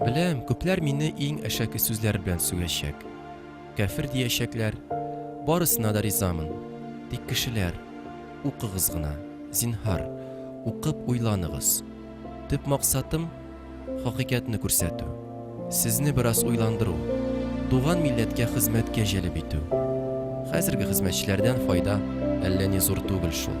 Беләм, күпләр мине иң әшәке сүзләр белән сүгәчәк. Кәфер диячәкләр. Барысына да ризамын. Тик кешеләр, укыгыз гына, зинһар, укып уйланыгыз. Төп максатым хакыйкатьне күрсәтү, сезне бераз уйландыру, туган милләткә хезмәткә җәлеп итү. Хәзерге хезмәтчеләрдән файда әллә ни зур түгел шул.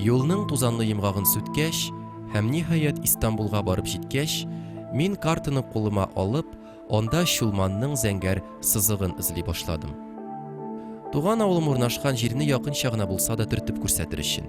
Юлның тузанлы йомгагын сүткәч, һәм ниһаять Истанбулга барып җиткәч, мин картаны кулыма алып, анда Чулманның зәңгәр сызыгын эзли башладым. Туган авылым урнашкан җирне якынча гына булса да төртеп күрсәтер өчен.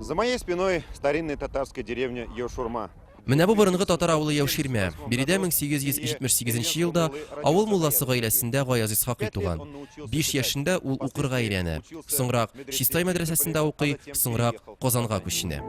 За моей спиной старинная татарская деревня Йошурма. Менә бу борынгы татар авылы Яуширмә. Биредә 1878 елда авыл мулласы гаиләсендә Гаяз Исхакый туган. 5 яшендә ул укырга өйрәнә. Соңрак Чистай мәдрәсәсендә укый, соңрак Казанга күченә.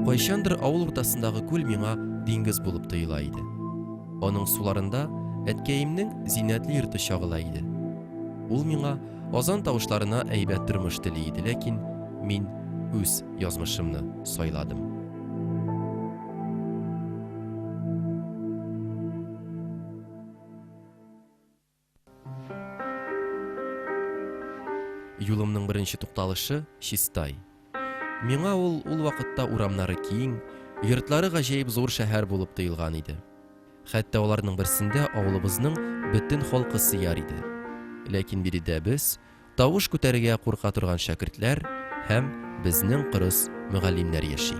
Кайчандыр авыл уртасындагы күл миңа диңгез булып тоела иде. Аның суларында әткәемнең зиннәтле йорты чагыла иде. Ул миңа азан тавышларына әйбәт тормыш тели иде, ләкин мин үз язмышымны сайладым. Юлымның беренче тукталышы Чистай. Миңа ул ул вакытта урамнары киң, йортлары гаҗәеп зур шәһәр булып тоелган иде. Хәтта аларның берсендә авылыбызның бөтен халкы сыяр иде. Ләкин биредә без, тавыш күтәрергә курка торган шәкертләр һәм безнең кырыс мөгаллимнәр яши.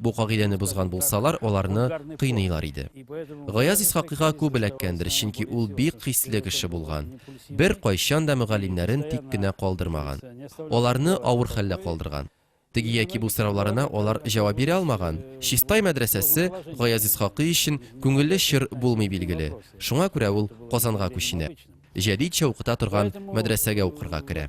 Бу кагыйдәне бозган булсалар, аларны кыйныйлар иде. Гаяз Исхакыйга күп эләккәндер, чөнки ул бик хисле кеше булган, беркайчан да мөгаллимнәрен тик кенә калдырмаган. Аларны авыр хәлдә калдырган. Теге яки бу сорауларына алар җавап бирә алмаган. Чистай мәдрәсәсе Гаяз Исхакый өчен күңелле чор булмый билгеле, шуңа күрә ул Казанга күченә. Җәдитчә укыта торган мәдрәсәгә укырга керә.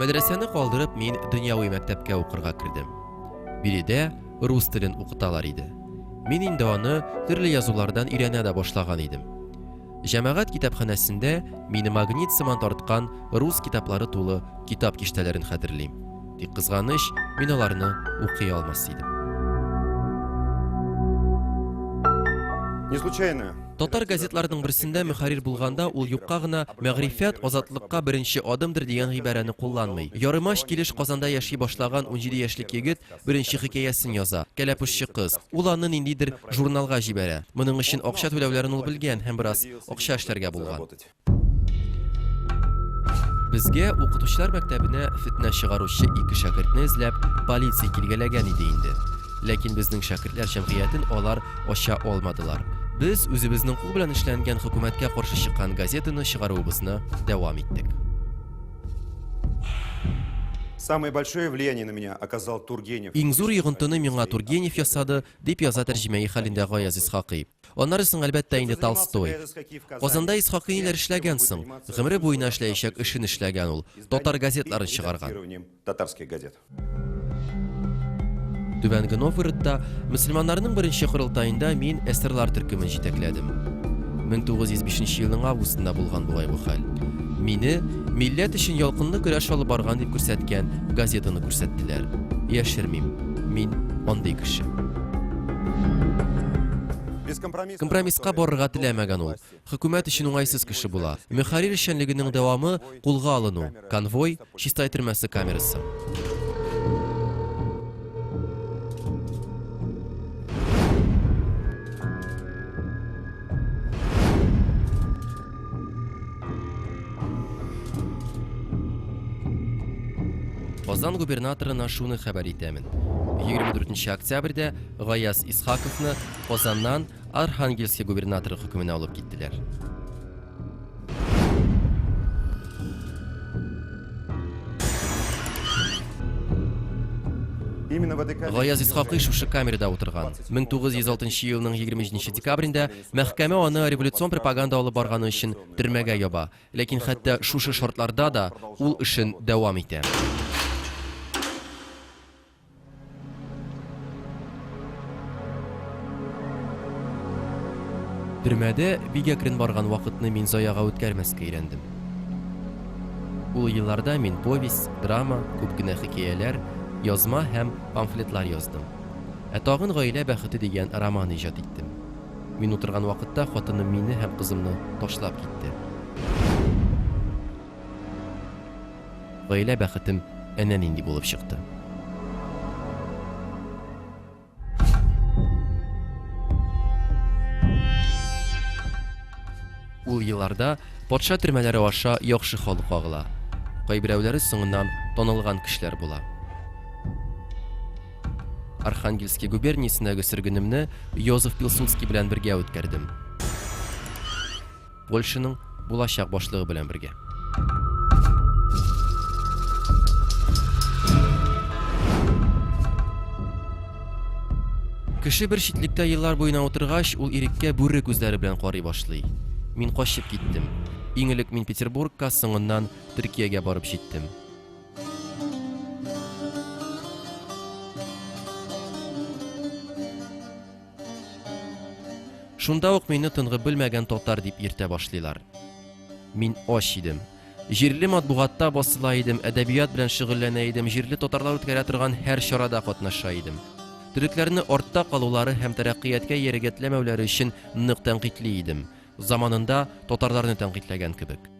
Мәдрәсәне калдырып, мин дөньяви мәктәпкә укырга кердем. Биредә рус телен укыталар иде. Мин инде аны төрле язулардан өйрәнә дә башлаган идем. Җәмәгать китапханәсендә мине магнит сыман тарткан рус китаплары тулы китап киштәләрен хәтерлим. Тик кызганыч, мин аларны укый алмас идем. Не случайно Татар газетларының берсендә мөхәррир булганда ул юкка гына мәгърифәт азатлыкка беренче адымдыр дигән гыйбарәне кулланмый. Ярымач килеш Казанда яши башлаган унҗиде яшьлек егет беренче хикәясен яза, Кәләпүшче кыз. Ул аны ниндидер журналга җибәрә. Моның өчен акча түләүләрен ул белгән һәм бераз акча эшләргә булган. Безгә укытучылар мәктәбенә фетнә чыгаручы ике шәкертне эзләп полиция килгәләгән иде инде. Ләкин безнең шәкертләр җәмгыятен алар ача алмадылар. Без үзебезнең кул белән эшләнгән хөкүмәткә каршы чыккан газетаны чыгаруыбызны дәвам иттек. Самое большое влияние на меня оказал Тургенев. Иң зур йогынтыны миңа Тургенев ясады, дип яза тәрҗемәи хәлендә Гаяз Исхакый. Аннары соң, әлбәттә инде, Толстой. Казанда Исхакыйниләр эшләгән соң, гомере буена эшләячәк эшен эшләгән ул, татар газетларын чыгарган. Түбәнге Новгородта мөселманнарның беренче корылтаенда мин эсерлар төркемен җитәкләдем. 1905 елның августында булган бугай бу хәл. Мине милләт өчен ялкынлы көрәш алып барган дип күрсәткән газетаны күрсәттеләр. Яшермим, мин андый кеше. Компромисска барырга теләмәгән ул. Хөкүмәт өчен уңайсыз кеше була. Мөхәррир эшчәнлегенең дәвамы, кулга алыну, конвой, Чистай төрмәсе камерасы. Казан губернаторына шуны хәбәр итәмен. 24 октябрьдә Гаяз Исхаковны Казаннан Архангельск губернаторы хөкеменә алып киттеләр. Гаяз Исхакый шушы камерада утырган. 1906 елның 23 декабрендә Мәхкәмә аны революцион пропаганда алып барганы өчен төрмәгә яба. Ләкин хәтта шушы шартларда да ул эшен дәвам итә. Төрмәдә бик әкрен барган вакытны мин заяга үткәрмәскә өйрәндем. Ул елларда мин повесть, драма, күп кенә хикәяләр, язма һәм памфлетлар яздым. Ә тагын Гаилә бәхете дигән роман иҗат иттем. Мин утырган вакытта хатыным мине һәм кызымны ташлап китте. Гаилә бәхетем әнә нинди булып чыкты. Ул елларда патша төрмәләре аша яхшы халык агыла. Кайберәүләре соңыннан танылган кешеләр була. Архангельски губерниясендәге сөргенемне Йозеф Пилсудский белән бергә үткәрдем. Польшаның булачак башлыгы белән бергә. Кеше бер читлектә еллар буена утыргач, ул иреккә бүре күзләре белән карый башлый. Мин качып киттем. Иң элек мин Петербургка, соңыннан Төркиягә барып җиттем. Шунда ук мине тынгы белмәгән татар дип йөртә башлыйлар. Мин ач идем. Җирле матбугатта басыла идем, әдәбият белән шөгыльләнә идем, җирле татарлар үткәрә торган һәр чарада катнаша идем. Төрекләрне артта калулары һәм тәрәккыяткә ярегәтләмәүләре өчен нык тәнкыйтьли идем. Заманында татарларны тәнкыйтьләгән кебек.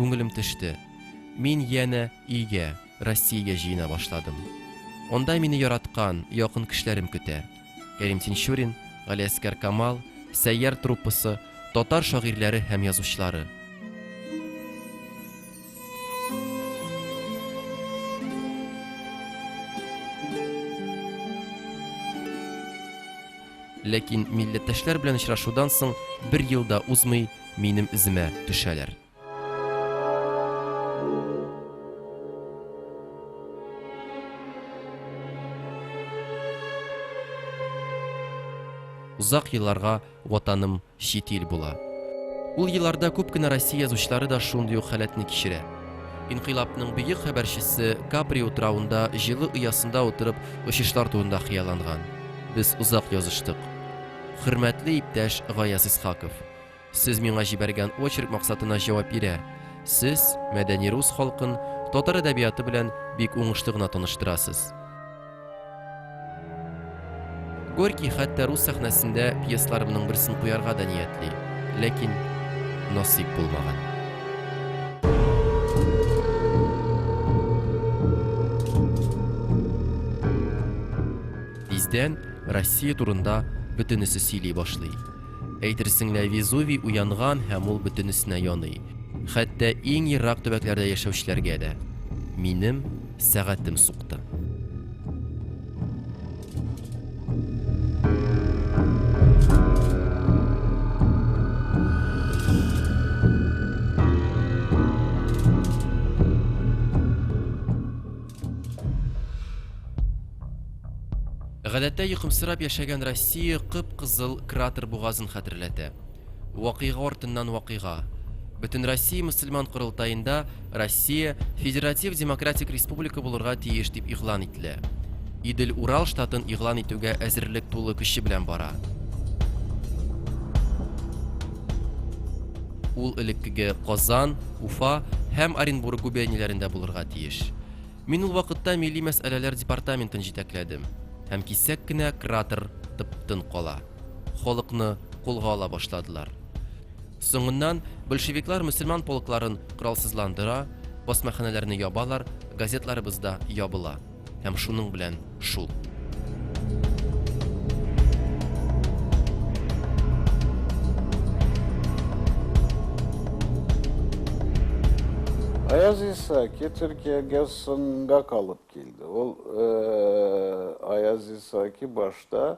Күңелем төште. Мин янә өйгә, Россиягә җыена башладым. Анда мине яраткан, якын кешеләрем көтә. Кәрим Тинчурин, Галиәскәр Камал, Сәйяр труппасы, татар шагыйрьләре һәм язучылары. Ләкин милләттәшләр белән очрашудан соң бер ел да узмый, минем эземә төшәләр. Озак елларга Ватаным чит ил була. Ул елларда күп кенә Россия язучылары да шундый ук халәтне кичерә. Инкыйлабның бөек хәбәрчесе Капри утравында җылы оясында утырып очышлар турында хыялланган. Без озак языштык. Хөрмәтле иптәш Гаяз Исхаков! Сез миңа җибәргән очерк максатына җавап бирә, сез мәдәни рус халкын татар әдәбияты белән бик уңышлы гына таныштырасыз. Горький хәтта рус сәхнәсендә пьесларымның берсен куярга да ниятли, ләкин насыйп булмаган. Тиздән Россия турында бөтенесе сөйли башлый. Әйтерсең лә Везувий уянган һәм ул бөтенесенә яный. Хәтта иң ерак төбәкләрдә яшәүчеләргә дә. Минем Сәгатем сукты. Гадәттә йокымсырап яшәгән Россия кып-кызыл кратер бугазын хәтерләтә. Вакыйга артыннан вакыйга. Бөтенроссия мөселман корылтаенда Россия федератив демократик республика булырга тиеш дип игълан ителә. Идел-Урал штатын игълан итүгә әзерлек тулы көче белән бара. Ул элеккеге Казан, Уфа һәм Оренбург губернияләрендә булырга тиеш. Мин ул вакытта милли мәсьәләләр департаментын җитәкләдем һәм кисәк кенә кратер тып-тын кала. Халыкны кулга ала башладылар. Соңыннан большевиклар мөселман полкларын коралсызландыра, басмаханәләрне ябалар, газетларыбыз да ябыла. Һәм шуның белән шул. Аяз Исаки Төркиягә соңга калып килде. Ул Аяз Исаки башта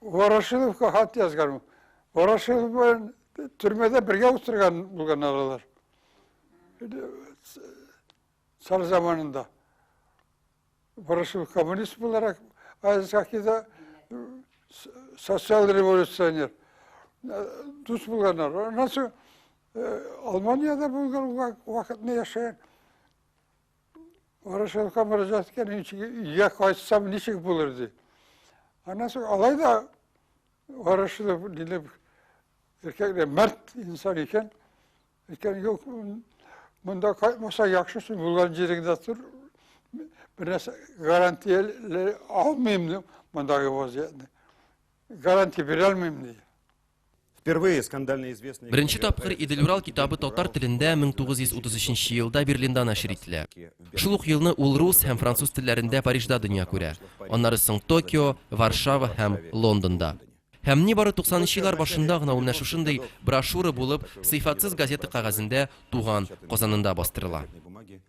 Ворошиловка хат язган. Ворошилов белән төрмәдә бергә утырган булган алар. Цар заманында. Ворошилов коммунист буларак, Айзакида социал революционер. Дус булганнар. Аннан соң Алманияда булган вакытны яшәгән. Ворошиловка мөрәҗәгать иткән ничек өйгә кайтсам ничек булыр ди. Аннан соң алай да Ворошилов дилеп эркәкле мәрт инсан икән. Икән юк монда кайтмаса яхшы син булган җиреңдә тор. Бернәрсә гарантия алмыйм ди мондагы вазиятне. Гарантия бирә алмыйм ди. Беренче тапкыр Идел-Урал китабы татар телендә 1933 елда Берлинда нәшер ителә. Шул ук елны ул рус һәм француз телләрендә Парижда дөнья күрә, аннары соң Токио, Варшава һәм Лондонда. Һәм нибары 90 нчы еллар башында гына ул менә шушындый брошюра булып Сыйфатсыз газета кәгазендә туган Казанында бастырыла.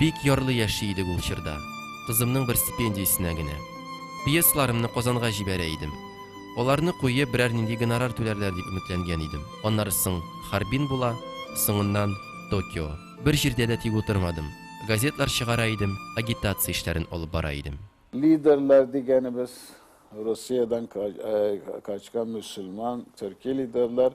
Бик ярлы яши идек ул чорда, кызымның бер стипендиясенә генә. Пьесаларымны Казанга җибәрә идем. Аларны куеп, берәр нинди гонорар түләрләр дип өметләнгән идем. Аннары соң Харбин була, соңыннан Токио. Бер җирдә дә тик утырмадым. Газетлар чыгара идем, агитация эшләрен алып бара идем. Лидерлар дигәнебез, Русиядән качкан мөселман, төрки лидерлар,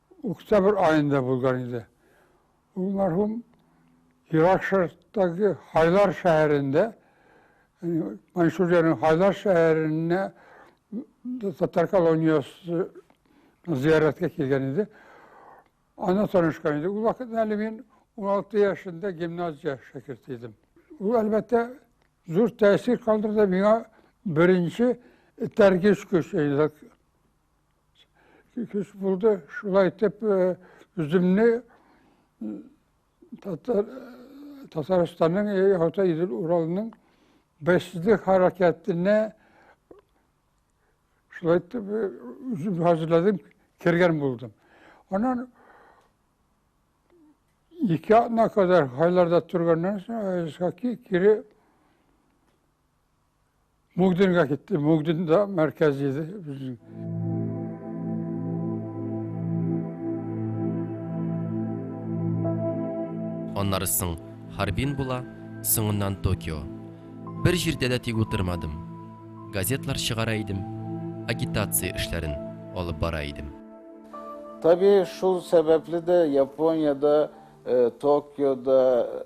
Октябрь аенда булган иде. Ул мәрхүм Ирак Шәрыктагы Хайлар шәһәрендә, Маньчжуриянең Хайлар шәһәренә татар колониясе зияраткә килгән иде. Ана танышкан иде. Ул вакыт әле мин 16 яшендә гимназия шәкерте идем. Ул, әлбәттә, зур тәэсир калдырды миңа беренче этәргеч көч, Көч булды, шулай итеп үземне Татарстанның Орта Идел Уралының бәйсезле хәрәкәтенә шулай итеп үзем хәзерләдем, кергән булдым. Анан ике атна кадәр хайларда торганнан соң Исхаки кире Мөгденгә китте. Мөгден дә мәркәз иде безнең. Аннары соң Харбин була, соңыннан Токио. Бер җирдә дә тик утырмадым. Газетлар чыгара идем, агитация эшләрен алып бара идем. Табигый, шул сәбәпле дә Япониядә, Токиода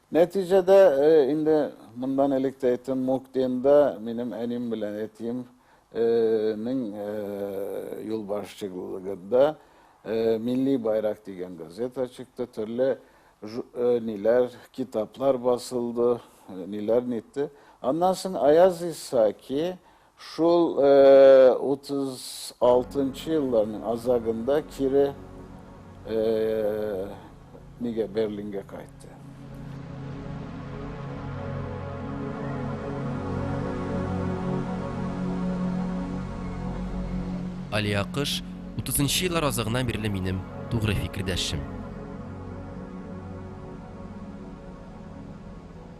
Нәтиҗәдә, инде мондан элек тә әйттем, Муктенда минем әним белән әтием нең юлбашчыгылыгында Милли байрак дигән газета чыкты, төрле ниләр, китаплар басылды, ниләр нитте. Аннан соң Аяз Исаки Шул 36 нчы елларның азагында кире нигә Берлингә кайтты. Алия Кыш, 30 нчы еллар азагына бирле минем тугры фикердәшем.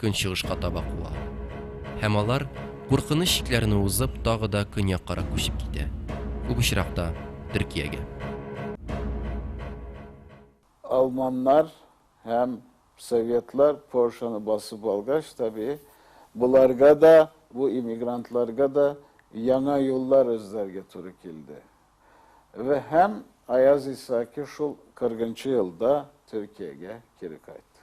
көнчыгышка таба куа. Һәм алар, куркыныч чикләрне узып, тагы да көньяккарак күчеп китә, күп очракта, Төркиягә. Алманнар һәм советлар Польшаны басып алгач, табигый, боларга да, бу иммигрантларга да яңа юллар эзләргә туры килде. Вә һәм Аяз Исаки шул 40 нчы елда Төркиягә кире кайтты.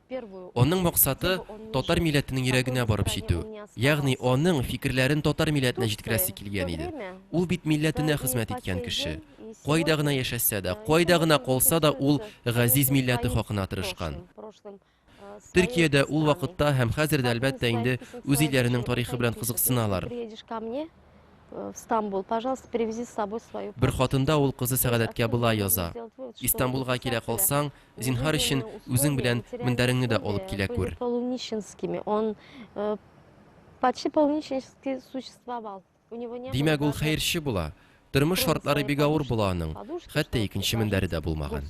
Аның максаты, татар милләтенең йөрәгенә барып җитү. Ягъни аның фикерләрен татар милләтенә җиткерәсе килгән иде. Ул бит милләтенә хезмәт иткән кеше. Кайда гына яшәсә дә, кайда гына калса да, ул газиз милләте хакына тырышкан. Төркиядә ул вакытта һәм хәзер дә, әлбәттә инде, үз илләренең тарихы белән кызыксыналар. Э, в Стамбул. Пожалуйста, привези с собой свою... Бер хатында ул кызы Сәгадәткә була яза. Истанбулга килә калсаң, зинһар өчен үзең белән мендәреңне дә алып килә күр. Полунищенскими. Он э, почти полунищенски существовал. Димәк, ул хәерче була. Тормыш шартлары бик авыр була аның. Хәтта икенче мендәре дә булмаган.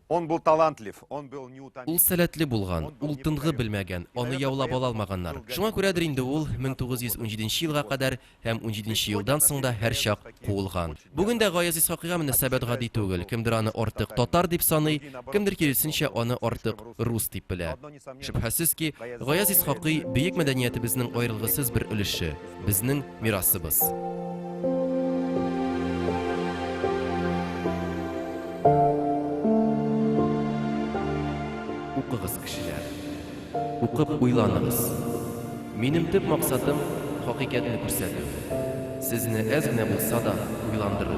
Он был талантлив, он был неутомим. Ул сәләтле булган, ул тынгы белмәгән, аны яулап ала алмаганнар. Шуңа күрәдер инде ул 1917 елга кадәр һәм 17 елдан соң да һәрчак куылган. Бүген дә Гаяз Исхакыйга мөнәсәбәт гади түгел. Кемдер аны артык татар дип саный, кемдер киресенчә аны артык рус дип белә. Шөбһәсез ки, Гаяз Исхакый, бөек мәдәниятебезнең аерылгысыз бер өлеше, безнең мирасыбыз. укып уйланыгыз. Минем төп максатым хакыйкатьне күрсәтү. Сезне әз генә булса да уйландыру.